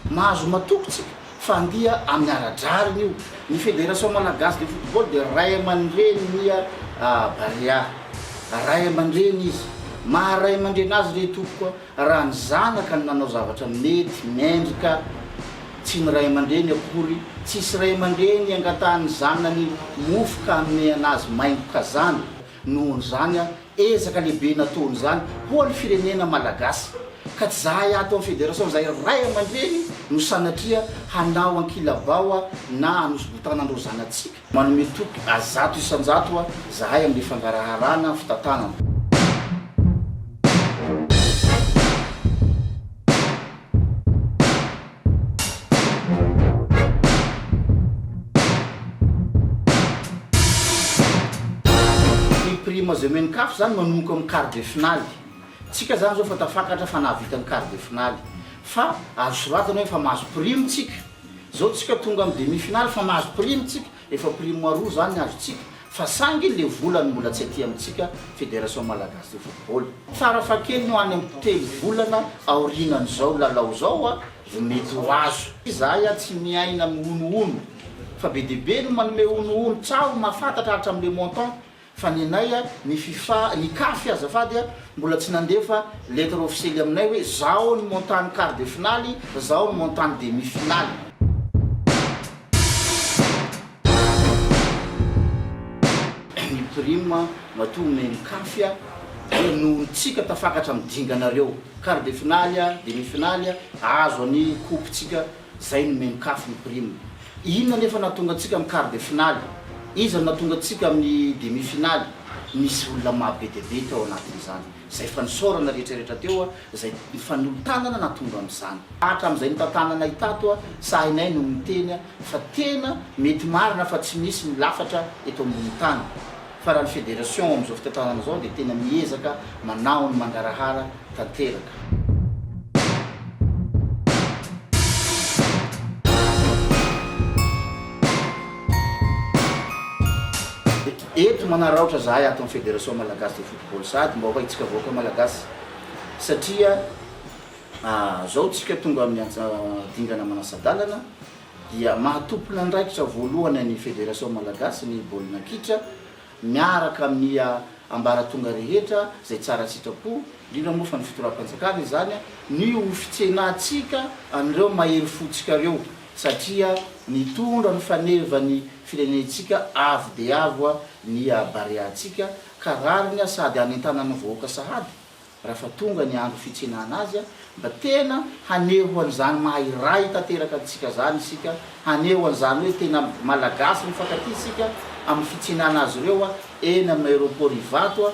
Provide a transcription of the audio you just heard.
Mahazo matoky tsika fa andia amin'ny ara-drariny io. Ny Fédération Malagasy de Football dia ray aman-dreny ny Barea. Ray aman-dreny izy. Maha ray aman-dreny azy re tompoko a! Raha ny zanaka no nanao zavatra mety, mendrika, tsy ny ray aman-dreny akory, tsisy ray aman-dreny angatahan'ny zanany mofo ka hanome an'azy maingo kazana. Nohon'izany an, ezaka lehibe natohon'izany ho an'ny firenena Malagasy. Ka tsy zahay ato amin'ny Federation izay ray aman-dreny no sanatria hanao ankilabao na hanosibotana an'ireo zanatsika. Manome toky zato isan-jato hoa zahay amin'le fangaraharana fitantanana. Ny prime zay omen'ny caf zany manomboka amin'ny quart de finale. Tsika zany zao efa tafakatra fa nahavita ny quart de finale. Fa azo soratana hoe efa mahazo prime tsika. Zao tsika tonga am demi finale fa mahazo prime tsika, efa prime aroa zany ny azontsika fa sangy le vola no mbola tsy aty amitsika federation malagasy de football. Fara fahakeliny ho any am telo volana aorinan zao lalao zao a vo mety ho azo. Izahay a tsy miaina am honohono fa be dia be no manome honohono tsaho mahafantatra hatram le montant Fa ny anay a, ny fifa, ny caf azafady a, mbola tsy nandefa lettre officielle aminay hoe zao ny montant ny quart de finaly, zao ny montant ny demi finaly. Ny prime matoa omen'ny caf a, dia noho ny tsika tafakatra amin'ny dinganareo. Quart de finaly a, demi finaly a, azo any coupe tsika Zay no mienkafo ny prime. Inona nefa nahatonga antsika amin'ny quart de finale? Iza no nahatonga antsika amin'ny demi finale? Nisy olona maha be dia be teo anatin'izany. Zay fanosaorana rehetra rehetra teo a, zay nifanolo-tanana nahatonga an'izany. Hatramin'izay notantananay itato a, sahinay no miteny a, fa tena mety marina fa tsy misy ny lafatra eto ambony tany. fa raha ny federation amin'izao fitantanana izao dia tena miezaka manaho ny mangarahara tanteraka. Eto manaraotra zahay ato amin'ny federation malagasy de football sady mba ho haintsika vahoaka malagasy satria ah, zao tsika tonga amin'ny dingana manasa-dalana, dia mahatompin'andraikitra voalohany an'ny Federation Malagasy ny baolina kitra miaraka amin'ny ambaratonga rehetra izay tsara sitrapo, indrindra moa fa ny Fitoram-panjakana izany, ny ho fitsenantsika an'ireo mahery fontsika ireo satria nitondra ny faneva ny firenentsika avo dia avo ny Bareantsika ka rariny sady hanentanana ny vahoaka sahady Raha fa tonga ny andro fitsenana azy, mba tena haneho an'izany maha-iray tanteraka antsika izany isika, haneho an'izany hoe tena Malagasy mifankatia isika amin'ny fitsenana azy ireo eny amin'ny Aéroport Ivato.